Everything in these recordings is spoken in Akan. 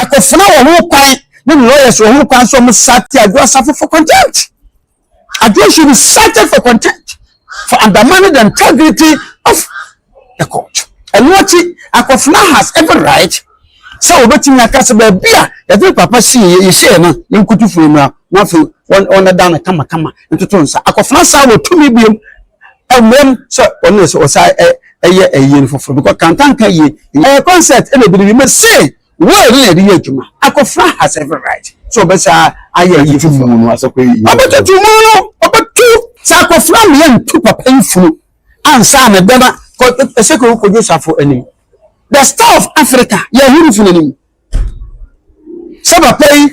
Akofena wɔ ho kwan ne ne lawyers wɔ ho kwan sɛ wɔn sate Adwo Asafo for contempt. Adwo should be cited for contempt for undermining the integrity of the court. Ɛno akyi, Akofena has every right sɛ wɔbɛtumi aka sɛ baabi a yɛde papa sii yɛ yɛhyɛɛ no yɛnkutu firi mmra na afei wɔn wɔn ɛda no kamakama ntoto nsa. Akofena saa wɔ tumi biom ɛmmra mu sɛ ɔno na sɛ ɔsan ɛ ɛyɛ ɛyie no foforɔ because kantanka yie ɛyɛ concert ɛna ebi de me se wɔyɛ no na yɛde yɛ adwuma akɔfra has every right sɛ ɔbɛsa ayɛ ɛyie foforɔ ɔbɛtutu mu no ɔbɛtu sɛ akɔfra mi yɛ ntu papa yi funu ansa na dɛma kɔ ɛsɛ kɔ kɔdwo safo anim the star of Africa yɛ ahuru funu anim sɛ papa yi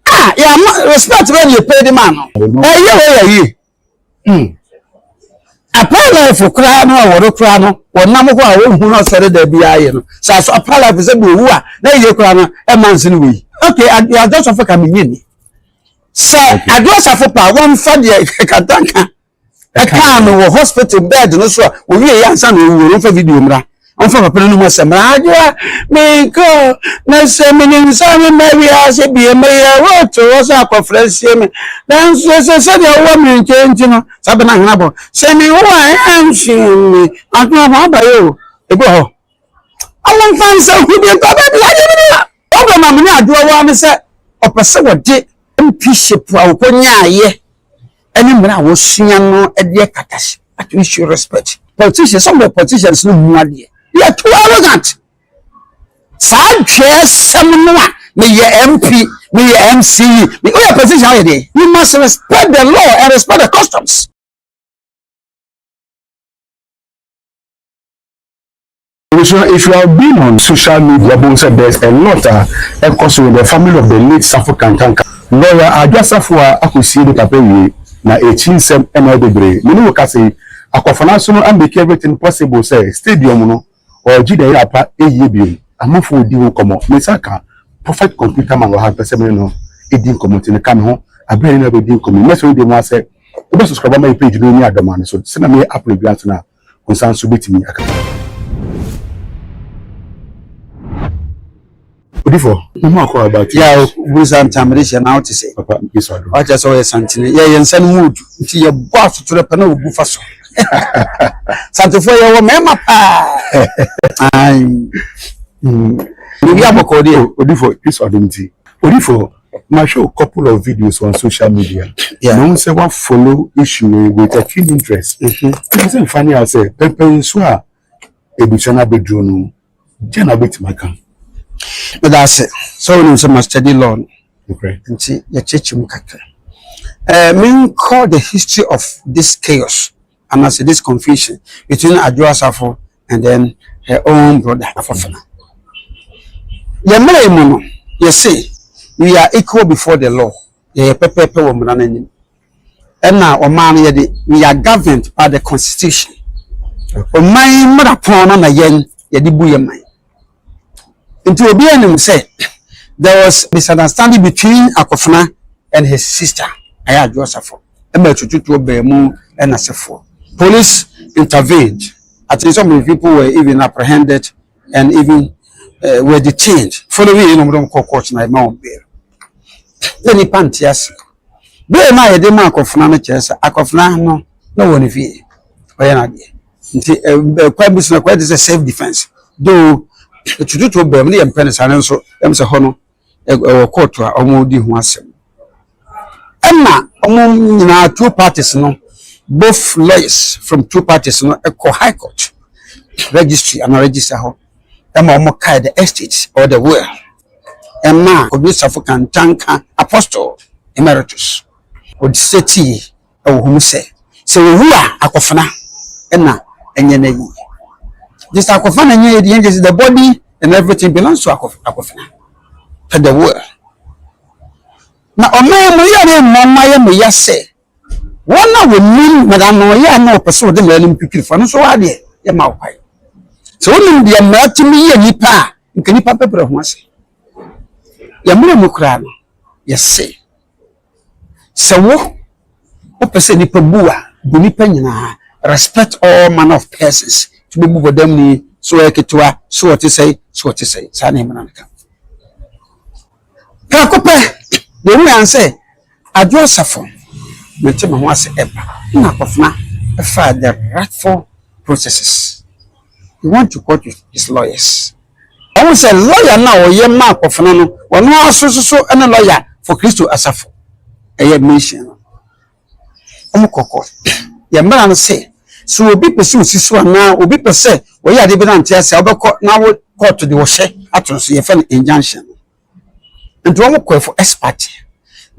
a yɛ ama respect bɛ ne yɛ pɛ de ma no ɛyɛ wɔ yɛ yie. Hmm. Apalifo koraa no a wɔrekora no, wɔnam hɔ a wɔnhu no ɔsɔre da biara yɛ no. Sɛ asɔ apalifo sɛ bɛwu a, na yie koraa no, ɛma nse no wɔ yi. Okay, adwasafo ka menye ni. Sɛ adwasafo pa, wɔmfa deɛ katanka ɛkaa no wɔ hospital bed no so a, wɔwie yɛ ansa na ɔwuo no, wɔmfa video mmra. Ɔmfa papa no ho asɛm mmra. Adwoa, menkɔ, na sɛ menim sɛ memma wiase bio, meyɛ roto hɔ sɛ akɔfrɛ nsie me. Nanso ɛsɛ sɛdeɛ wowɔ me nkyɛn nti no, saa bɛ no ahena bɔ. Sɛ mewu a, ɛnhye me. Adwoa, ho abayɛ o, ɛgu hɔ. Ɔmfa nsa hu bi mpa baabi, adeɛ bi ni hɔ. Odo ma mene adoɔ waa ne sɛ ɔpɛ sɛ wɔde mpiship a ɔkɔ nyaaeɛ ɛne mmerɛ a wɔsua no ɛdeɛ katash at we should respect politicians some of the politicians no mu adeɛ they are too arrogant saa dwɛɛ sɛm no a meyɛ MP meyɛ MCE me oyɛ politician ayɛ deɛ you must respect the law and respect the customs. Abusua if you have been on social media bohu sɛ there's a lot a ɛkɔ so with the family of the late Safo Kankanka. Lawyer Adwa Safo a akɔsie ne papa wie na akyi nsɛm na ayɛ bebree. Me ne wo kasa yi Akwafona so no a make everything possible sɛ stadium no ɔregye the year pa ɛyie biom. Amafo ɔdi ho nkɔmmɔ me nsa aka Prophet Computer Man wɔ ha mpɛ sɛ me ne no ɛdi nkɔmmɔ nti no ka me ho aberɛ a yɛne no bɛdi nkɔmmɔ yi. Mɛsɔ yi deɛ mu asɛ wobɛ subscribe ama yɛ page no ɛnni adɔma no so sɛdeɛ meyɛ upload biara nso no a. Wo nsa nso betumi aka bi. Odifo, mo ho akɔ about it. Yeah, woburu saa nti na mede hyɛ na wote sɛ. Papa, mpɛ so adom. Wakyerɛ sɛ woyɛ santene. Yeah, yɛn nsa no mu odu nti yɛbɔ asotorɛ pɛ na ogu fa so. Santefoɔ yɛwɔ mmarima paa. Ae. Biribi abɔkɔɔ deɛ. Odifo, mpɛ so adom nti. Odifo, Ma hwɛ wo couple of videos on social media yeah. Mahu sɛ wa follow issue wei with a keen interest. Ɛfiri sɛ nfa ne a sɛ pɛmpɛn nso a ebusua no abɛduro no gya na wobɛtumi aka. Meda ase sɛ wonim sɛ ma study law no nti yɛkyekye mu kakra. Uh, menkɔ the history of this chaos anase this confusion between adwo asafo and then her own brother afoforo yɛ mmerɛ mu no yɛ se we are equal before the law yɛ yɛ pɛpɛɛpɛ wɔ mmara no anim ɛna ɔman no yɛ de we are governed by the constitution ɔman mmara pɔn no na yɛn yɛ de bu yɛ man Nti obiara nim sɛ there was misunderstanding between Akofena and his sister Ayadwo Osafo ɛma atututuo baa mu ɛna sefoɔ. Police intervened. I think some of the people were even apprehended and even uh, were detained. Following yɛn na wɔn kɔ court na ɛma wɔn bail. Yɛ nipa nte ase. Bail no a yɛde ma Akofena no kyerɛ sɛ Akofena no na wɔ ne fie ɔyɛ n'adeɛ. Nti ɛɛ ɛkwan bi so no akɔyɛ te sɛ self defence though tututuo bɛɛm no yɛmpɛ no saa nanso yɛm sɛ hɔ no ɛwɔ court a wɔn di ho asɛm ɛna wɔn nyinaa two parties no both lawyers from two parties no ɛkɔ high court registry ana register hɔ ɛma wɔn kae the estate or the will ɛma odusafo kantanka apostle emeritus ɔdisɛtii wɔ hɔ mu sɛ, Sɛ owu a, akofena na ɛnyɛ n'ayi. Gyesɛ akofena na ɛnyɛ yɛn gyesɛ the body and everything belongs to akofena to the world. Na ɔman mu yɛ ne mmɔ mma yɛ mo ya sɛ wɔn a wɔnim mmara no yɛ a na wɔpɛ sɛ wɔde mmara no mu twitwiri fo no nso waa deɛ yɛ ma wo kwan. Sɛ wonim deɛ mmara tumi yɛ nipa a nka nipa bɛbrɛ ho ase. Yɛ mmerɛ mu koraa no yɛse Sɛ wo wopɛ sɛ nipa bu a, bu nipa nyinaa. Respect all manner of persons. Nti wobɛbu bɔdamni, sɛ ɔyɛ ketewa, sɛ ɔte sɛn, sɛ ɔte sɛn. Saa na mmara no ka. Prɛko pɛ, yɛhu yɛn sɛ Adwo Asafo, mente me ho ase, ɛba na akofena faa the rightful processes. you want to court with his lawyers ɔhu sɛ lawyer no a ɔyɛ ma akɔfena no ɔno ara so soso ɛne lawyer for kristo asafo ɛyɛ mission no ɔmo kɔ court yɛ mmara no sɛ so obi pɛ sɛ osi so anaa obi pɛ sɛ ɔyɛ ade bi na nte ase a ɔbɛkɔ na wo court de ɔhyɛ ato no so yɛfɛ no injunction nti ɔmo kɔ ɛfo expert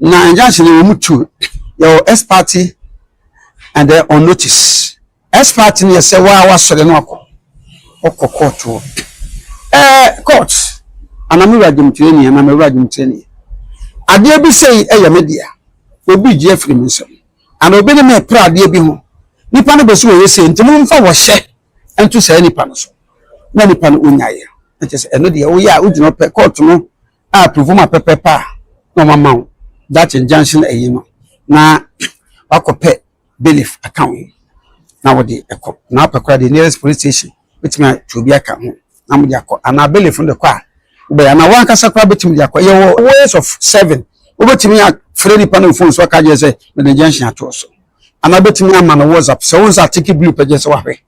na injunction no ɔmo tuo yɛwɔ expert and then on notice Expert no yɛ sɛ waa wasɔre na wakɔ ɔkɔ court hɔ ɛɛ court ana me wura dwomtire nie ana me wura dwomtire nie adeɛ bi sei ɛyɛ me dea obi gye afiri me nsam ana obi ne me pra adeɛ bi ho nipa no bɛsi wɔyɛ sei nti momfa wɔhyɛ nto saa nipa no so na nipa no ɔnyaeɛ na kyɛ sɛ ɛno deɛ woyɛ a wogyina pɛ court no a approve ma pɛpɛpɛ a na ɔmama wo that injunction ɛyi no na wakɔpɛ bailiff aka wo ho na wode kɔ na wopɛ koraa deɛ nearest police station bɛtumi atwe obi aka ho na mode akɔ anaa bailiff no de kɔ a wobɛyɛ anaa wankasa koraa bɛtumi de akɔ yɛwɔ ways of serving wobɛtumi afrɛ nipa no mfon so aka gye sɛ mede junction atoɔ so anaa wobɛtumi ama no whatsapp sɛ wo nsa ateke blue pɛ gye sɛ wahwɛ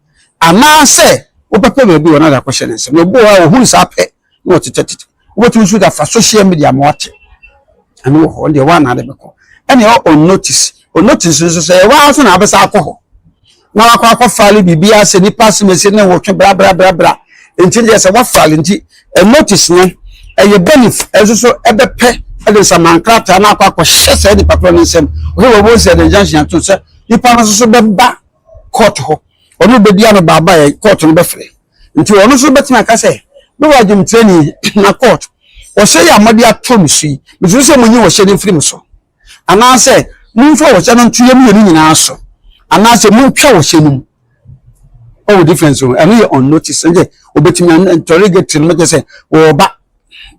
anaasɛ wobɛpɛ baabi wɔ no de akɔhyɛ ne nsɛm na obi wɔ hɔ a wɔhunu saa pɛ na ɔtetɛtetɛ wobɛtumi nso de afa social media ma wate ɛno wɔ hɔ deɛ woana de bɛkɔ ɛne ɔ on notice on notice nso sɛ ɛwɔ ara so na abɛsa akɔ hɔ na wakɔ akɔ file biribi ase nipa asemese ne wɔtwe brabrabrabra nti deɛ sɛ wafile nti ɛ notice no ɛyɛ benefit ɛnso so ɛbɛpɛ ɛde nsaman krataa na akɔ akɔhyɛ saa nipa korɔ ne nsam ɔhɛ wɔ wɔn sɛ ɛde nyanhyɛ to sɛ nipa no nso so bɛba kɔɔto hɔ, ɔne wo bɛdi ano baa baa yɛ kɔɔto no bɛfrɛ. Nti ɔno nso bɛtumi aka sɛ, me wɔ adwemtirani na kɔɔto, ɔhyɛ yi a mode ato me so yi, mesuro sɛ monyi ɔhyɛ no mfiri me so. Anaasɛ momfa ɔhyɛ no nto yɛ mmienu nyinaa so. Anaasɛ montwa ɔhyɛ no mu. Ɔwɔ difference o, ɛno yɛ unnoticed, ɛnde ɔbɛtumi, interrogatory no bɛkyɛ sɛ wɔreba.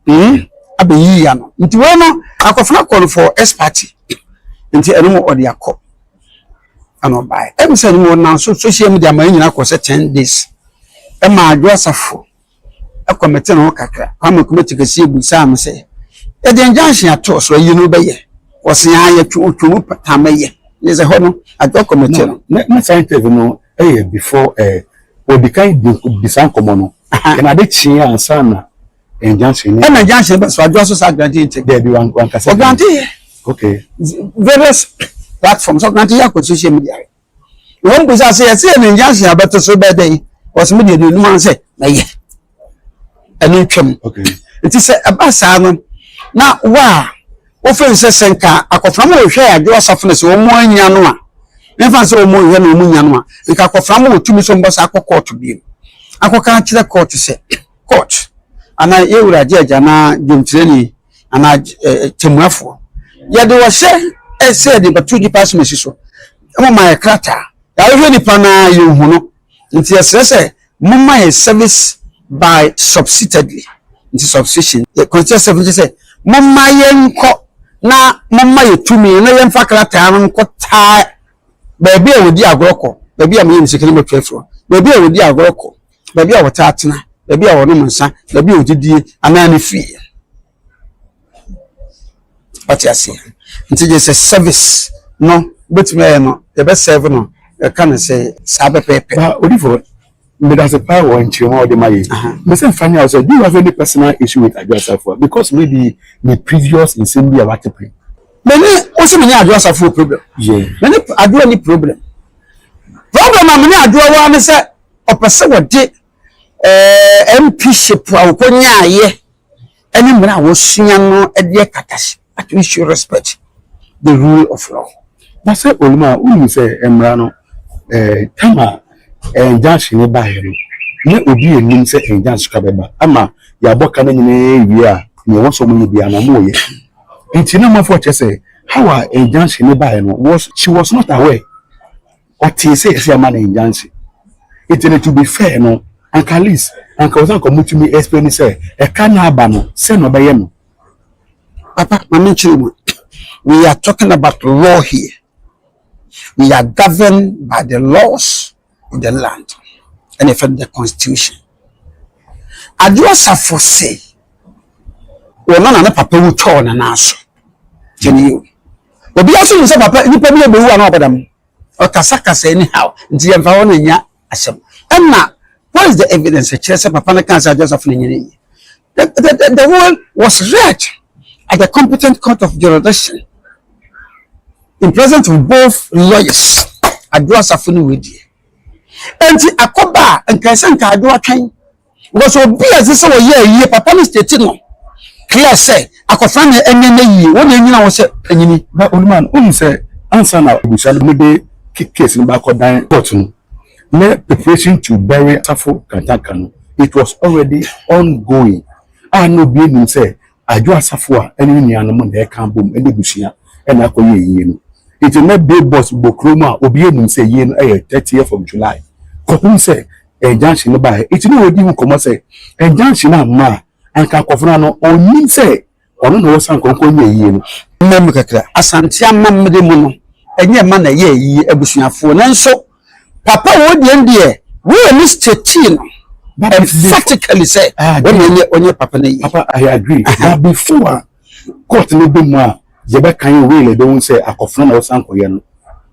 Hmm abɛyi ya no nti wei no akɔfena kɔ no for S party nti ɛno mo ɔde akɔ ɛna ɔbaeɛ ɛmu sɛ ɛno ɔnam so social media ma nyina kɔ sɛ ten days ɛma adwo asafo ɛkɔ mete no kakra kwame kɔmɛti kɛseɛ bu saa no sɛ yɛde injunction ato so ayi no bɛyɛ wɔsea yɛtwo otwo mu pata mɛyɛ ne sɛ hɔ no adwo kɔmɛti no ne scientist no Ɛyɛ before ɛɛ wɔdi kan di bisa nkɔmɔ no na ade kyee ansa na injunction no. Ɛna injunction ba so adwoa so saa grantee nkyɛ. Daabi wankasa bi. Ɔgrantee yɛ. Okay. Various platforms ɔgrantee yɛ akɔ social media yɛ. Na wɔn bisa sɛ yɛsɛ yɛ na injunction abɛto so bɛyɛ dɛn ɔsɛ mi deɛ deɛ onum ara sɛ mɛyɛ. ɛno ntwam nti sɛ ɛba saa no na wo a wofrɛ no sɛ sɛnka akɔfram wɔ hwɛ adwo asafo no sɛ wɔn anya no a yɛmfa sɛ wɔn nhwɛ na wɔn nya no a nka akɔfram wɔ tumi sɛ mbɔ saa akɔ kɔɔto bio akɔka akyerɛ kɔɔto sɛ kɔɔto anaa yɛwura agye agya anaa dwomtirani anaa tɛmuafoɔ yɛde wɔhyɛ ɛsɛ de bɛto nipa asomasi so ɛmo ma yɛ krataa yɛahwehwɛ nipa no a yɛhu no Nti yɛsrɛ sɛ momma yɛn service by subsitedly nti subscription yɛ consider sɛ nkyɛ sɛ momma yɛnkɔ na momma yɛ tumi na yɛmfa krataa no nkɔ taa baabi a wɔdi agorɔ kɔ baabi a meyɛ ne sika no mɛtwa afiri hɔ baabi a wɔdi agorɔ kɔ baabi a wɔtaa tena baabi a wɔnom nsa baabi a wɔdidie anaa ne fie Wate aseɛ? Nti gye sɛ service no wobɛtumi ayɛ no yɛbɛ serve no ɛka no sɛ saa pɛpɛɛpɛ. Ba Odifo, medase paa wɔ nkyerɛmu a wode ma yɛn. Mese mfa nyɛ wo sɛ, do you have any personal issue with Adwo Asafoa? Because maybe ne previous nsɛm bi a wate pere. Me ne wo se me ne Adwo Asafoa problem? Yeah. Me ne Adwo ni problem. Problem a me ne Adwo wɔ ara ne sɛ ɔpɛ sɛ wɔde eh, MPship a wɔkɔnyaeɛ ne mmerɛ a wɔsua no deɛ kata hyɛ but we should respect the rule of law. na sɛ onim a wonim sɛ mmara no eh, tam a eh, injunction no baeɛ no na obi anim sɛ injunction ka bɛba ama yɛabɔ ka no nyinaa wie a na ɛwɔ sɛ ɔmoyɛ biara na ɔmoyɛ nti na mafo kyerɛ sɛ how a injunction no baeɛ no was she was not aware ɔtee sɛ yɛsɛ yɛma no injunction nti no to be fair no anka at least anka ɔsɛ anka ɔmo tumi explain sɛ ɛka na aba no sɛ na ɔbɛyɛ no. Papa ma me nkyerɛ mu we are talking about law here we are governed by the laws of the land ɛna ɛfɛ the constitution Ado Asafo se wɔn na ne papa wu tɔɔ ne nan so kyɛ ne yɛ o. Obiara nso nim sɛ papa nipa bi rebɛwu a na wabɔ dam. Ɔkasakasa anyhow nti yɛmfa hɔ no nyɛ asɛm. Ɛnna what is the evidence ɛkyerɛ sɛ papa no kaa sɛ Adwasafo no nyɛ ne yie? The, the, the, the will was read at the competent court of jurisdiction in presence of both lawyers. Adwasafo no wɔ die. Enti akɔba a nkae sɛ nkae do atwɛn. Because obi a ɛsɛ sɛ ɔyɛ ayie papa no state no clear sɛ akɔfra na ɛnyɛ no ayie wɔn na ɛnyina hɔ sɛ panyini. Na onuma no wonim sɛ ansa na abusua no mode case no baakɔ dan court no na preparation to bury asafo kantanka no it was already ongoing a na obi anim sɛ Adwo asafo a ɛne ne nuanom na ɛka abom de abusua na akɔyɛ ayie no. Enti na Bay Bus bɔ kurom a obiara nim sɛ ayie no yɛ thirtieth of July kɔpem sɛ injunction no baeɛ. Enti na wɔdi ho nkɔmmɔ sɛ injunction no amma a, anka akofena no ɔnnim sɛ ɔno na wɔsan kɔ nkɔnyɛ ayie no. Mmamu kakra, Asante amammerɛ mu no, ɛnyɛ mma na ɛyɛ ayie abusuafoɔ. Nanso Papa wei deɛ deɛ. Wei a miss Chechi no. Emphatically sɛ. Wei deɛ nyɛ onyɛ papa no yie. Papa I agree. Uh -huh. But before court no bɛ mu a yɛbɛ kan yɛ wei na ɛbɛn sɛ akɔfra na ɔsan kɔyɛ no.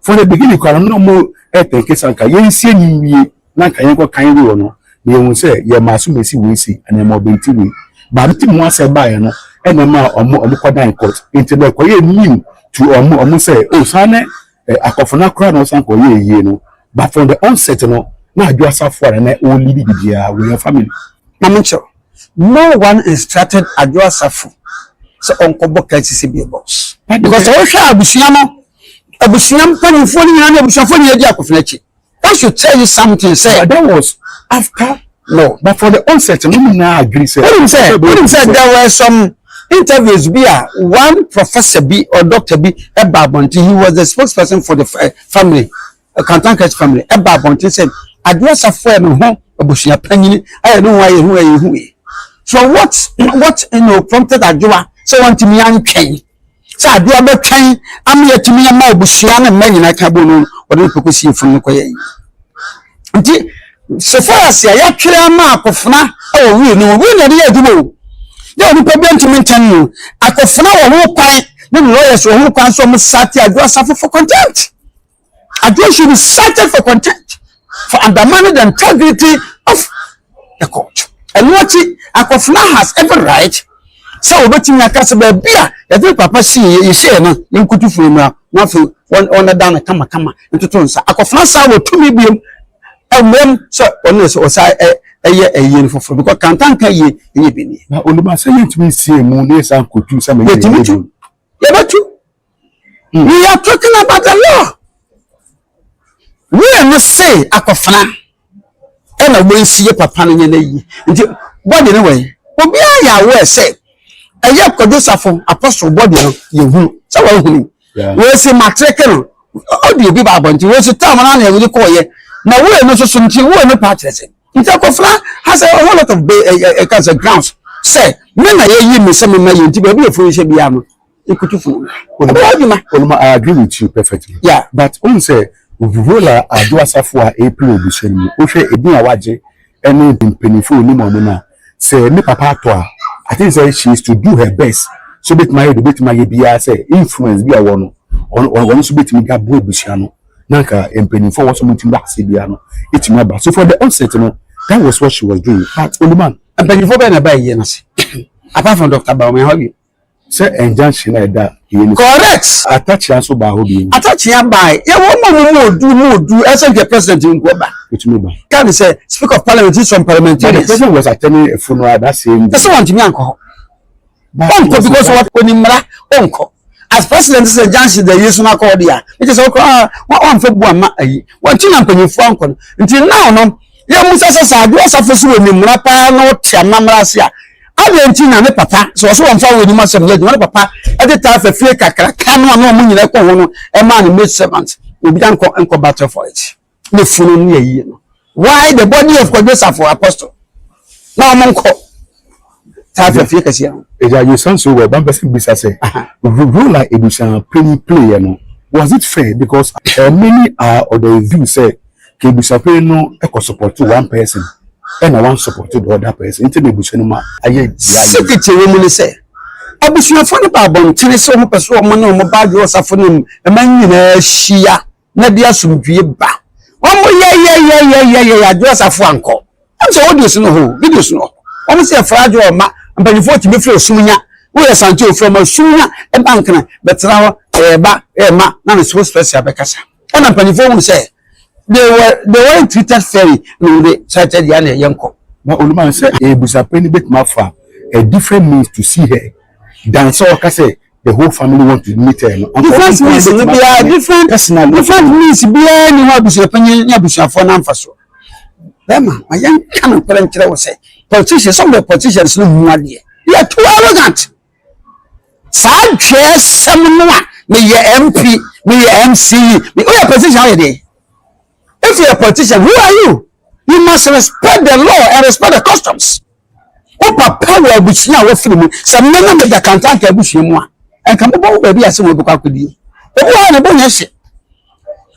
For the beginning kora no na ɔmo ɛtɛnke sɛ anka yɛn nsie ni wie na anka yɛn kɔ kan wei wɔ no na yɛn ho sɛ yɛ maa so ma esi wei si ɛna ɛma ɔbɛn ti wei. Baako ti mu asɛ baayɛ no ɛna ɛma ɔmo ɔmo kɔ dan court nti na ɛkɔyɛ new to ɔmo ɔmo sɛ o oh, saa ne. Eh, akofena koraa na ɔsan kɔ yɛ yie no but from the onset no na adwo asafo a na ɔwɔ lead didi a wɔ yɛn family. Na me nkyɛw no one instructed adwo asafo sɛ ɔnkɔ bɔ KCC beer box because sɛ wohwɛ abusua no abusua mpanyinfoɔ no nyinaa ne abusuafoɔ nyinaa di akofena akyi. I should tell you something sɛ. But that was after no but for the onset no mo nyinaa adwene sɛ. Wonim sɛ wonim sɛ there were some interviews bi a one professor bi or doctor bi ɛba abɔnten he was the spokesperson for the eh, family eh, Kantankra's family ɛba abɔnten sɛ adeɛ asafo a me ho abusua panyini ayɛ ne ho ayɛ hu ayɛ hu yi so what what you know prompted adwoa sɛ wɔntumi antwɛn sɛ adeɛ bɛtwɛn ama yɛatumi ama abusua ne mma nyinaa ka bɔ no wɔde no pɛkɔ sie funu no kɔ yɛn nti sefarase a yɛatwerɛ ama akɔfena wɔ wii no wii na ɛde yɛ adwuma o yɛ onipa bi ntumi ntɛn no akɔfena wɔ ho kwan ne ne lɔyɛs wɔ ho kwan sɛ ɔmo sate adwo asafo for contempt Aduo should be cited for contempt for undermining the integrity of the court. Ɛno akyi, Akofena has every right sɛ wɔbɛtumi aka sɛ baabi a yɛde papa sii yɛ yɛhyɛɛ no yɛnkutu firi mmra na afei wɔnɛda no kamakama ntoto nsa. Akofena saa wɔ tumi biom ɛwom sɛ ɔno sɛ ɔsa ɛyɛ ɛyie no foforɔ because kantanka yie ɛyɛ bi nie. Na onimasa yɛntumi nsie mu na yɛsan kɔtu sɛ mɛyɛ yɛtumi tu yɛbɛtu We are talking about the law. Wei no se akɔfena ɛna wɔnsi yɛ papa no nyɛ no ayi nti bɔde no wɛn obiara yɛ awɔ sɛ ɛyɛ kɔdosafo apɔso bɔde no yɛhunu sɛ wɔahunu wɔsi matreke no ɔde obi ba abɔnten wɔsi tam no na ɛwode kɔɔyɛ na wei no nso so nti wei no paa kyerɛ sɛ nti akɔfena has a whole lot of ɛka sɛ grounds sɛ me na yɛyi me sɛ mema yɛ nti baabi ɛfo nhyɛ biara no Ikutufo. Ɔyɛ adwuma. Onum I agree with you perfectly. Yeah. But wohu sɛ Ovuhola Adwo Asafo a ɛrepre abusua no mu, wohwɛ edin a wagye ne mpanyimfo a onim wɔn no a, sɛ ne papa atɔ a, I think sɛ she is to do her best sɛ obetumi ayɛ deɛ obetumi ayɛ biara sɛ influence bi a ɔwɔ no, ɔno ɔno nso betumi de aboa abusua no na nka mpanyimfo a wɔsɛ wɔn ti mu ase biara no etumi aba. So for the onset no, that was what she was doing. But Oluman. Mpanyimfo bɛn na ɛbaa yie no ase apart from Doctor Bawumia hɔ bio? Sɛ injunction a ɛda wei no so. Correct. Atakyea nso baa hɔ bio. Atakyea bae. Yɛ wɔn a wɔn mu odu mu odu ɛsɛ nka president nko ba. Otumi ba. Ka ne sɛ speaker of parliament ne some parliamentarians. But the president was attending a funeral that same day. Ɛsɛ wɔn ntumi ankɔ hɔ. Ɔnkɔ because wɔn kɔ ni mmara ɔnkɔ. As president sɛ injunction da yie so na akɔ hɔ deɛ a, ɛkyɛ sɛ ɔkɔ a wɔn amfa bu ama ayi. Wɔn ti na mpanyinfoɔ ankɔ no. Nti now no. Yɛmmisa sɛ, sɛ Adwoa Safo so wɔ nimmmra paa na ɔte amammerɛ ase a, adɛn nti na ne papa, sɛ ɔse wɔmfa wɔ anim asɛm no adwuma, ne papa de taa fa fie kakraka no a na wɔn nyinaa kɔ ho no maa ne maid servant, obi da nkɔ nkɔ battle for it, ne funu ne ayie no? Why the body of Kwadwo Safo, apostle, na wɔn nkɔ? Taa fɛ fie kɛseɛ no. Agya Yesa nso wɔ ba mpɛsɛ bisa sɛ, Role a abusuapanyin playɛ no, was it fair because uh, many are of the view sɛ ka abusuapanyin no kɔ support one person ɛna wan support the other person nti na abusua no ma ayɛ dea yie. Secret ɛwɔ mu ne sɛ, abusuafoɔ no ba abɔntene sɛ wɔpɛ sɛ wɔne wɔn ba adwo ɔsafo no mu ma nyinaa hyia. na de asomdwie ba wɔn mo yɛyɛyɛyɛyɛyɛ adwo asafo ankɔ ɛm sɛ audios no hɔ videos no hɔ wɔn sɛ ɛfra adwo ɔma mpanyinfoɔ tumi firi osum nya woyɛ sante ofura ma osum nya ɛba nkana bɛtena hɔ ɛɛba ɛɛma na ne so spɛsia bɛkasa ɛna mpanyinfoɔ hu sɛ they were they were treated fairly na wɔn de sate deɛ na ɛyɛ nkɔ. na oluman sɛ ebusapɛ ni betuma fa a different means to see her dan sɛ ɔka sɛ the whole family want to meet her no. different means ni biara different personal different means biara ni hɔ abusuapanyin ne abusuafoɔ na nfa so bɛrima ma yɛn ka no nkɔla nkyerɛ wɔ sɛ politicians some of the politicians no mu adeɛ they are too arrogant saa dwɛɛ sɛm no a meyɛ mp meyɛ mce meyɛ politician ayɛ deɛ. If you're a politician, who are you? You must respect the law and respect the customs. Wo papa wɔ abusua a wafiri mu. Sɛ mmɛ na meda kantanka abusua mu a, ɛnka mobɔ wo baabi ase wɔn bɛkɔ akɔdie. Obi wɔ hɔ na ɛbɔ nyɛ hye.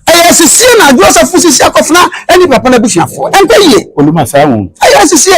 Ɛyɛ asisie na adwoɔ sɛ fo sisi akɔfena ɛne papa no abusuafoɔ. Ɛnkɔ yie. Oluma saa wɔn. Ɛyɛ asisie.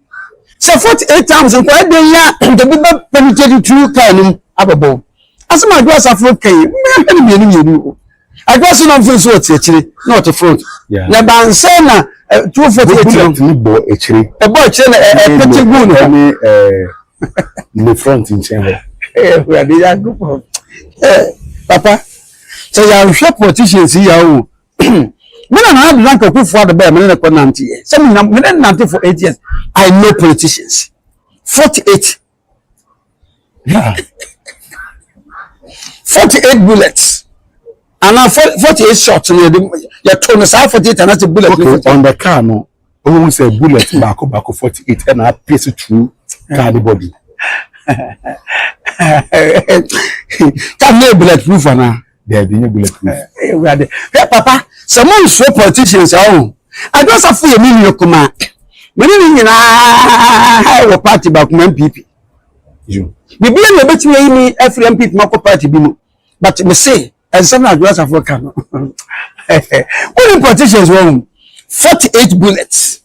sɛ forty eight times nkɔ ɛdɛn yɛ a nkɛbi bɛ penetrate through car no mu abɛbɔ wo asɛm a adwo asafo kan yi mmea hwɛ no mmienu mmienu o adwo ase na ɔmfin so ɔte akyire na ɔte front Yeah. na ɛbansɛ na eh, two forty eight no bullet no bɔ akyire ɛbɔ akyire na ɛ- ɛpete gu ne hɔ ɛne ɛɛ, ne front nkyɛn hɔ Eh, awurade yankopɔn Eh, papa sɛ yɛanhwɛ politicians yi yɛ o me na nana danka akufo ado bɛyɛ me ne ne kɔ nante yɛ sɛ mo nyinaa me ne nante for eight years i know politicians forty eight forty eight bullets ana forty eight shots no yɛde yɛto no saa forty eight anase bullet okay on the car no. Ohun sɛ bullet baako baako forty eight ɛna apɛsi through car ne body. Car ne bullet proof ana? Dɛbi nye bullet proof. Ewurade, hɛ papa, sɛ mo nsuo politicians ɛwɔ ho, adwasafo yɛ mi nua kumaa, mɛ ne ne nyinaa wɔ party baako mu MPP. Biribi na ebetumi ayi mi afiri MPP mu akɔ party bi mu, but me se. ɛnsɛm na adwo asafo ka no wonim politicians wɔ ho 48 bullets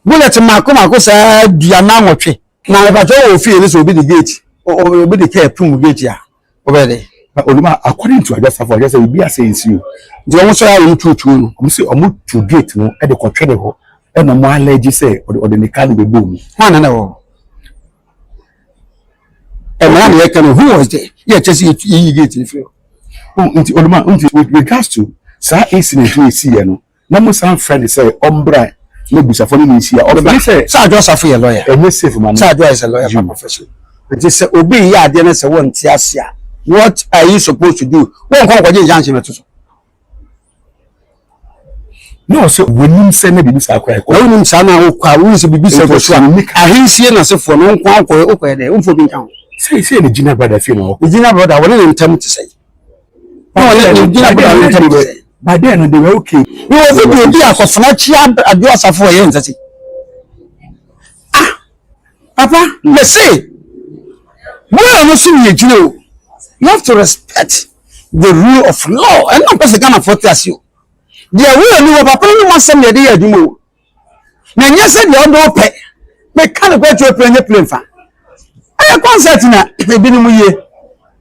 bullet mako mako saa duanan nwɔtwe na ɛbɛtɔ wɔ fie no sɛ obi de gate obi de kɛ pum gate a ɔbɛyɛ dɛ oluma according to adwo asafo ɔyɛ sɛ obi asɛ nsi o nti wɔn sɔrɔ a wɔn tuotuo no wɔn sɛ wɔn tu gate no ɛde kɔtwere hɔ ɛna wɔn alɛgye sɛ ɔde ne kaa no bɛbɔ mu hɔn na na wɔ hɔ Ɛmaa nea ɛka no, who was there? Yɛ ɛkyɛ sɛ yɛyi gate no firi hɔ. Oh, nti Oluma, nti with regards to saa incident no ɛsi yɛ no, na mo san frɛ no sɛ ɔmbra na abusafo no ne nhyia. Ɔbɛba. Sɛ Adwo Asafo yɛ lawyer. Ɛnyɛ safe ma no. Sɛ Adwo is a lawyer by profession. Nti sɛ obi yɛ adeɛ no sɛ wɔnte ase a, what are you supposed to do? Wɔnkɔ nkɔgye injunction no to so. Na ɔsɛ wɔnim sɛ na biribi saa koraa kɔ. Na wonim saa na wokɔ a wonim sɛ biribi saa kɔ so a ahensie no asefoɔ no nko ara wokɔɛ wokɔɛ dɛ womfo bi nka ho. Sɛ sɛ ne gyina brada fie na ɔkɔ. Ne gyina brada wɔne ne ntam te sɛ. Na wɔne ne gyina brada ne ntam te sɛ. Badeɛ no de wɛ okay. Ne wɔ fi deɛ obi akɔfena kyia adwo asafo ɛyɛ nsa si. Ah papa mese. Bɔyɛ no so ne yɛ gyina o. You have to respect. The rule of law ɛna mpɛ sɛ Ghanafoɔ te ase o deɛ ɛwɔ yɛ ni wɔ papa no mu asɛm deɛ ɛde yɛ adwuma o na ɛnyɛ sɛ deɛ ɔde ɔpɛ meka no kɔ akyerɛ pere nyɛ pere mfa ɛyɛ concert na ebinom yie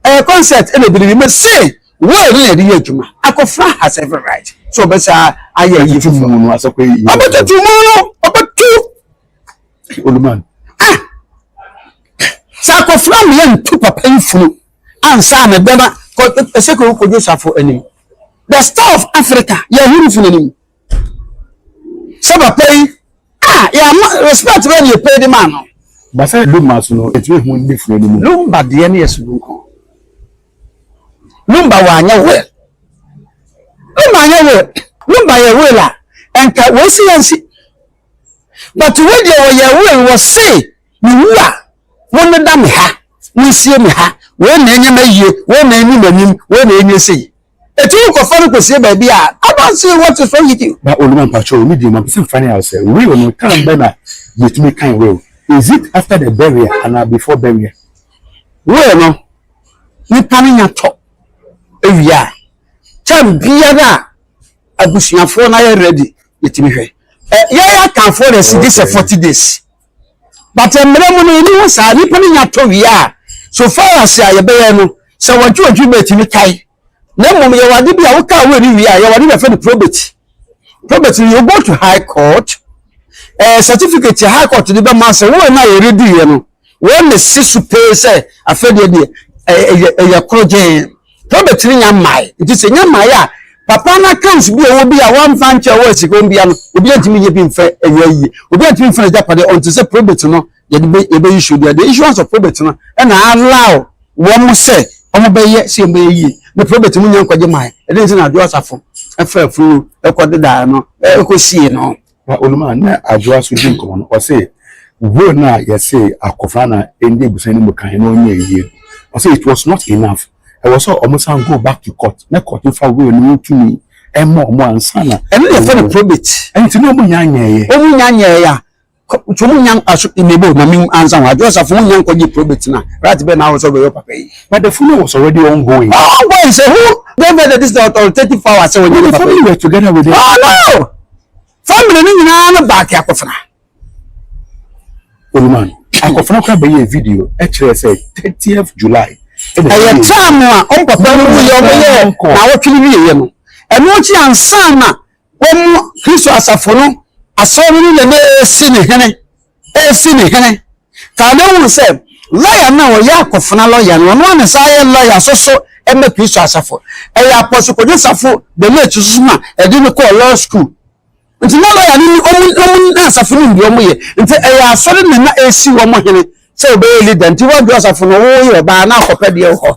ɛyɛ concert ɛna ebinom yie mɛ se wɔyɛ no na ɛde yɛ adwuma akɔfra has every right so ɔbɛsa ayɛ ayi tutu mu no asɛ kɔ yi ɔbɛ tutu mu no ɔbɛ tu oluman ah sɛ akɔfra mi yɛ ntu papa yi funu. ansa na bɛma kɔ ɛsɛ kɔ kɔdwo safo anim the star of africa yɛ huru funu anim sɛ papa yi a yɛ ama respect bɛ ne yɛ pɛ de ma no basa lumba so no ɛtumi hu ne funu anim lumba deɛ ne yɛ so nko lumba wɔ anyɛ wɛ lumba anyɛ wɛ lumba yɛ wɛ la ɛnka wɔsi yɛn si but wɔdeɛ wɔyɛ wɛ wɔ se Mewu a, monneda me ha, monsie me ha, wei na ɛnyɛ m'ayie, wei na ɛnni m'anim, wei na ɛnyɛ sei. Enti wokɔfa no kɔsie baabi a I don't see what is wrong with you. Na Oluma mpakyɛw wo medin no mepɛ sɛ mefa no out sɛ will no term bɛn na yɛtumi kan will? Is it after the burial anaa before burial? Will no nipa no nya tɔ ɛwie a term biara a abusuafoɔ no ayɛ ready yɛtumi hwɛ. Yɛn Akanfoɔ na ɛsi gye sɛ 40 days. But mmerɛ mu no yɛni hɔ saa, nipa no nya tɔ wie a, so far as a yɛbɛyɛ no, sɛ wɔgye wɔ adwuma ɛtumi tae. Na mmom yɛwɔ ade bi a wo kaa wei no wie a, yɛwɔ ade bi a yɛfrɛ no probate. Probate no you go to high court, ɛɛ certificate a high court de bɛma sɛ wei no a yɛrediiɛ no, wɔn na ɛsi so pee sɛ afei deɛ deɛ ɛyɛ ɛyɛ koro gyɛn. Herbert ne nya mmae nti sɛ nya mmae a papa no accounts bi a ɔwɔ bi a wɔamfa nkyɛ ɔwɔ sika wɔn bia no obi antumi nyɛ bi mfa ɛyɛ ayie obi antumi mfa n'agyapadeɛ ɔnte sɛ probate no yɛde bɛ yɛbɛ issue deɛ the issuance of probate no ɛna allow wɔn sɛ wɔn bɛyɛ sɛ wɔn bɛyɛ yie na probate mu nya nkwagye mmae ɛdɛn nti na adwo asafo ɛfa afuro ɛkɔ dedaa no ɛkɔ sie no. Na Onum a nna Adwoa so dzi nkɔmbɔ no, ɔse, Were no a yɛsee akofaa no a nndzi ebusua no mu kan no ɔnnyɛɛ yie no, ɔse, it was not enough, ɛwɔ sɛ ɔmo san go back to court na court mfa were no ho tumi mma ɔmo ansa na. Ɛno na yɛfrɛ no probate. Ntsi na ɔmo nnya nnyɛɛɛ. Ɔmo nnya nnyɛɛɛ a, ntsi ɔmo nnya aso, mebo, ma menwu ansa ho, Adwoa Safo, wonnya nkɔgye probate no a, right bɛn na awɔ sɛ ɔbɛyɛ ɔpapa yi? But the funeral was already ongoing. Ongoing, sɛ who gave her this authoritative power sɛ ɔnyɛ ne papa yi? But the family were together with it. Oh no! Family no nyinaa no baa ke akɔfena. Oluman, akɔfena koraa bɛyɛɛ video kyerɛɛ sɛ thirtieth July ɛna ɛyɛ. Ɛyɛ term a wɔn papa no wuiɛ wɔn yɛɛ naawɔtwe no wieɛ no. Ɛno akyi ansa na wɔn Kristo asafo no asɔre no na na ɛresi ne hene. ɔresi ne hene kaa no hui sɛ lɔya no a ɔyɛ akofena lɔya no ɔno ara na ɛsan yɛ lɔya nso so ma Kristo asafo. Ɛyɛ Apostle Kojo Safo the late nso so na ɛde no kɔɔ law school. Nti na lɔya no ni ɔmo ɔmo na asafo no nim deɛ ɔmo yɛ. Nti ɛyɛ asɔre na na ɛresi wɔn hene sɛ ɔbɛyɛ leader nti wɔn deɛ ɔsafo no woyɛ ɔbaa na akɔpɛ deɛ wɔ hɔ.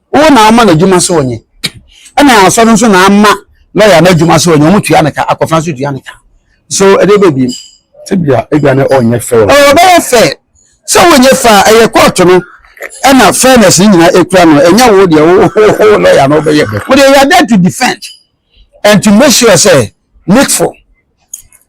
Wo na woma no adwuma sɛ ɔnyɛ. Ɛna asɔre nso na ama lɔya no adwuma sɛ ɔnyɛ. Wɔtua no ka, akofena nso tua no ka. So ɛdeɛ bɛyɛ bio? Tebea ebia na ɔnyɛ fair. Ɔɔ ɔbɛyɛ fair. Sɛ wonyɛ fair a, ɛyɛ kɔɔto no ɛna fairness no nyinaa ɛkura no. Ɛnyɛ wo deɛ wo lɔya no wobɛyɛ. Wo deɛ you are there to defend and to make sure sɛ Nickful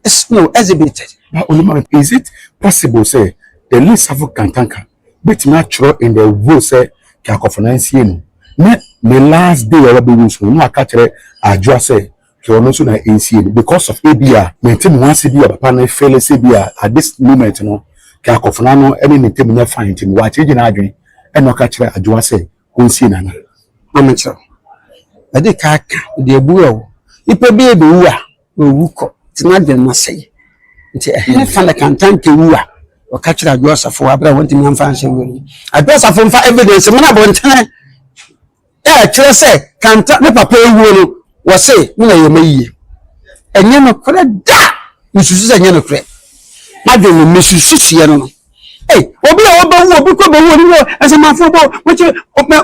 is no exhibited. Ba Onimami, is it possible sɛ the late Safo Kantanka betumi atwerɛ in the role sɛ Keakɔfo Nancy no ne ne last day a wabɛwu nso no na waka akyerɛ Adwoa sɛ hwɛ ɔno nso na ɛnsie no because of ebi a mente me ho ase bi a papa no feele sɛ bi a at this moment no Keakɔfo no ano ne ne ntam nyɛ fine nti no wakyegye n'adwene ɛna ɔka kyerɛ Adwoa sɛ ɔnsie Nana. Maame kyerɛw. Mede ka aka, mede abu wo. Nipa bi ɛbɛwu a Wɔawu kɔ. Nti m'adwene mu asɛe. Nti ɛhene fa na kantanke wu a wɔka kyerɛ Adwo Asafo wɔ bere a wɔntumi amfa anhyɛ nwura no mu. Adwo Asafo mfa evidence mmra abɔntene a ɛkyerɛ sɛ Kanta ne papa awuo no wɔ se me na ɛyɛ m'ayie. Ɛnyɛ nokorɛ da! Mesusu sɛ ɛnyɛ nokorɛ. M'adwene mu mesusu suiɛ no no. Ei, obi a ɔbɛwu, obi kɔ bɛwu, obi wɔ asamanfoɔ bɔ, wɔkyɛ,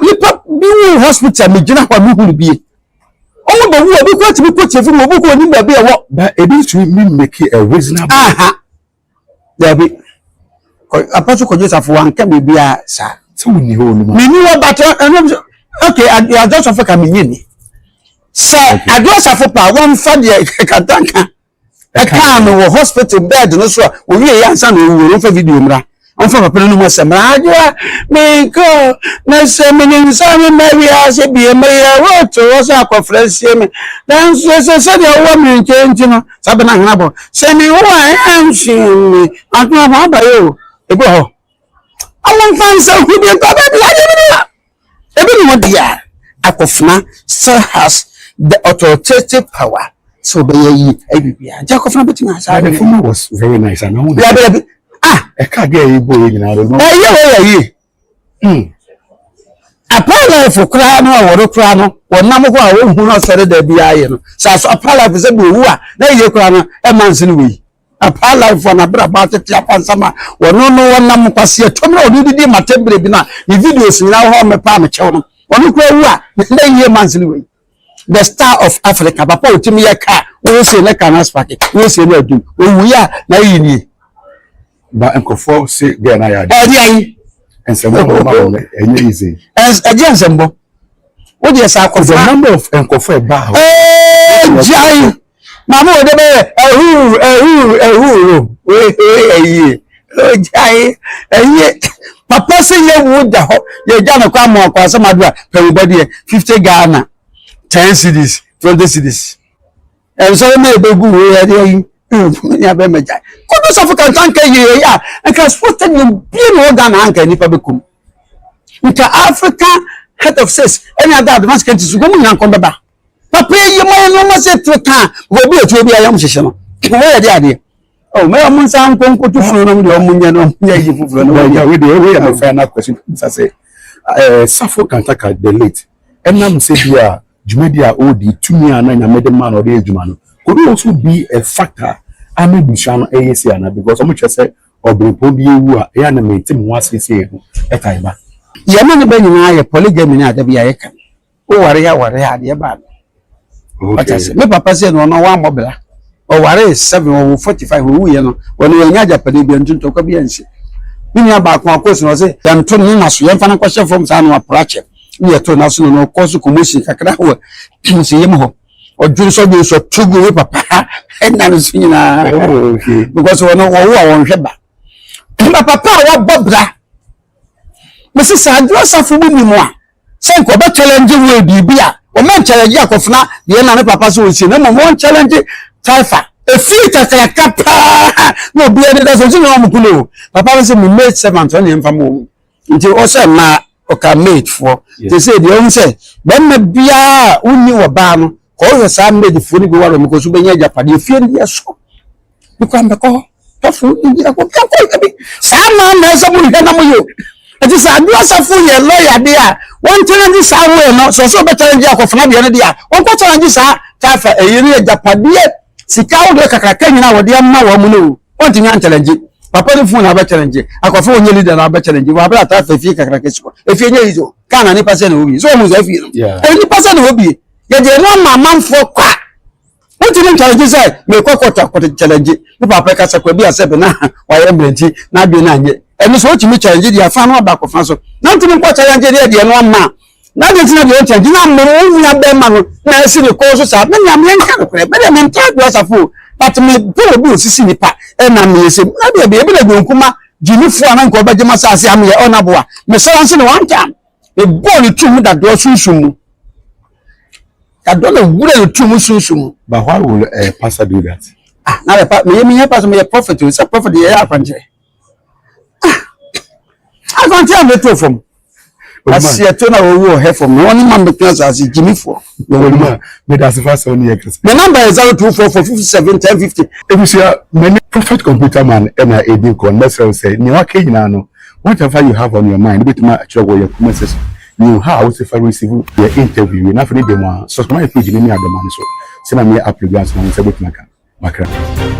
nipa bi wu hospital, megyina hɔ a mehunu bie. Ɔmo bɛ wu, obi kura tumi kɔ tie funu, obi kɔ onim baabi ɛwɔ. Ba ebi ntumi mi make a reasonable. Aha. Dabi. Apɔso kɔjɔ safo wa nka biribi a saa. Sɛ wo ni hɔ onim a. Mi ni hɔ batɔ ɛnum sɛ okay adɔ safo ka mi nye ni. Sɛ adɔ safo pa wɔn fa deɛ kata nka. Ɛkaa no wɔ hospital bed no so a owie yɛ ansa na ɔwuo no ɔmfa video mmra ɔmfa papa no anum asɛm mmra agyewa menkɔ na sɛ menim sɛ mema wiase bie meyɛ roto hɔ sɛ akɔfrɛ sie me nanso ɛsɛ sɛdeɛ wowɔ me nkyɛn nti no saa bɛna ahena bɔ sɛ mewo a ɛnsume atoma ho abayɛ o ɛbi wɔ hɔ ɔmomfa nsa hu bi ntɔ baabi agye me bi a Ebi ne hɔ deɛ a, akofena still has the authoritative power sɛ ɔbɛyɛ yi ɛyɛ biribiara nti akofena bɛtumi ayɛ saa. The former was very nice and now. Dabi dabi ah. Ɛka adeɛ a yɛbɔ yɛ nyinaa no. Ɛyɛ wɔ yɛ yie. Hmm. Apalafo koraa no a wɔre koraa no wɔnam hɔ a wɔnhu no sɛre da biara yɛ no. Sɛ aso apalafo sɛ bi owu a na yie koraa no ɛma nse no wɔ yi. Apaa life a n'abrabɔ atete apansam a ɔno no ɔnam nkwasea tuom na ɔde didi ma tembere bi no a ne videos nyinaa wɔ hɔ a wɔmepɛ a mekyɛw no ɔno koraa wu a ne yie ma nsene wei the star of Africa papa ɔtumi yɛ kaa wɔyɛ sie ne kaa no aspake wɔyɛ sie ne adum ɔwuiɛ a na yi nie ba nkurɔfoɔ se gɛɛ no ayɛ adeɛ ɛde ayi nsɛmbɔ ma wɔn ɛnyɛ easy ɛgye nsɛmbɔ wodeɛ saa akɔfa the number of nkɔfoɔ ɛbaa hɔ ɛgyae Maame wɔ dɛ bɛyɛ ɛhuu ɛhuu ɛhuu ro wee ɛyie ɔgyae ɛyie papa sɛ yɛ wu da hɔ yɛ gya no kɔ ama ɔkɔ asɛm ado a pɛwubɔ deɛ fifty Ghana ten cities twenty cities ɛnsɔre ma ɛbɛgu wei ɛde ayi ne abɛma gyae kodo sɔfo kanta nka yie ɛyɛ a nka sports stadium bie na ɔga na anka nipa bɛkum nka Africa head of six ɛne ada advanced countries nkɔmu nyina nkɔmbɛba papa yi mo yɛ nneɛma sɛ tiri ka ma obi etuo bi ayam hyehyɛ no wɔn yɛ de adeɛ ɔ mɛ ɔmo nsa nko nkoto funu nom deɛ ɔmo nyɛ no ɔmo nyɛ yi foforɔ no wɔn yɛ wɔn deɛ wɔn yɛ mo fɛn na kwasi nsa sɛ ɛɛ safo kantaka the late ɛnam sɛ bi a dwumadi a ɔredi tumi a na nyame de ma na ɔde yɛ adwuma no could you also be a factor ama ebusua no ɛyɛ si ana because ɔmo kyerɛ sɛ ɔbɛnpɔn bi ewu a ɛyɛ anam eti mu asiesie no ɛtan ba. yɛne ne bɛ nyinaa yɛ polygamy no a da bi a yɛka no Wo ware a ware a deɛ ɛbaa no. Wate ase. Me papa sɛ no ɔno wammɔ bra. Ɔware seven ɔwɔ forty five owu yɛ no wɔn yɛn nyɛ agyapadeɛ bi nti ntɔkwa bi ansi. Me nua baako akɔ so na ɔsɛ yɛn to ne na so yɛn fa no kɔhyɛ fam saa na wapra kyɛ. Ne yɛ to na so na ɔkɔ so kɔmɔ si kakra wɔ nsi yam hɔ. Ɔdwene so ɔdwene so to gu me papa ɛna no so nyinaa. Because wɔn wɔwo a wɔn hwɛ ba. Ɛna papa a wabɔ bra. Mese saa adwuma asafo mu nim a sɛ nka ɔbɛ challenge wo biribi a ɔmɛ nkyɛlɛgye akɔfena deɛ na ne papa so ɔnsie na mmom wɔn challenge taifa efie kakraka paa na obi ɛde da so nso na wɔn kunu o papa no sɛ me maid servant ɔne mfa mu wɔn nti ɔsɛ mmaa ɔka maid foɔ te sɛ deɛ ɔhu sɛ bɛrima biara wonni wɔ baa no Kɔhwɛ saa Medfoɔ no bi wɔ Rome kɔ so bɛnya agyapadeɛ efie no yɛ so ne kwan bɛkɔ hɔ tɔfo ne bi ɛkɔ bɛkɔ yɛ bi saa maa na ɛsɛ mo hwɛ na mo yɛ ɛti sɛ adu asafo yɛ lɔya de a wɔn tena gye saa wo yɛ no sɛ ɔsɛ ɔbɛtena gye akɔfena deɛ no de a wɔn kɔ tena gye saa tafa ɛyɛ ne agyapadeɛ sika ahodoɔ kakraka nyinaa wɔde ama wɔn no o wɔn ti nya ntɛnɛ gye papa ne fun na abɛkyɛ ne gye akɔfo wɔn nyɛ leader na abɛkyɛ ne gye wɔn abɛrɛ atafa efie kakraka si hɔ efie nyɛ yi so kaa na nipa sɛ na obi so wɔn sɛ efie no nipa sɛ na obi Yɛde ɛno ama amanfoɔ kwa. Wontumi ntware gye sɛ merekɔ kɔɔto akɔkyɛlɛgye me papa kasa kwa bi a sɛbe na wayɛ mmerɛ nti n'adwene no anyɛ. Ɛno so wotumi kyɛlɛgye deɛ afa no aba akɔfa so. Na wontumi nkɔ kyɛlɛgye deɛ deɛ ɛno ama a. Na deɛ nti na deɛ wokyɛlɛgye no ama wo nua bɛrima no na asi ne kɔn so saa. Me nua me yɛnka nokorɛ me deɛ mentaa dwo asafo o but me pɛ obi osisi nipa ɛna meyɛ sɛ na deɛ deɛ ebi na dwo nkuma gyimifoɔ a na nka ɔbɛgye m'asaase a meyɛ ɔnaboa me sɔrɔ nso ne one time. Mebɔɔ ne turo mu dadoɔ sunsum mu. Dadoɔ na wura ne turo mu sunsum mu. But why will a pastor do that? Ah, na the pastor, me me pastor, me a prophet. It's a prophet. Yeah, I can't. Ah, I can't tell me too from. Asi ɛto na owu wɔ hɛfɔ mu wɔn ma mbɛtena asase gyimi fɔ. Wɔn mu a mɛda ase fa sɛw ne yɛ kɛse. Mɛ namba yɛ zero two four four fifty seven ten fifty. Ebusua mɛ ne prophet computer man ɛna edi nkɔ mɛsɛw sɛ nea waka nyinaa no Whatever you have on your mind no betumi akyerɛ wɔ yɛn kuma sɛ so ne yɛn ha a wose fa receive yɛn interview wie no afei ne dɛm ara subscribe yɛn page no ne adɔma no so sɛ na meyɛ upload ansa na wo nsa betumi aka makra.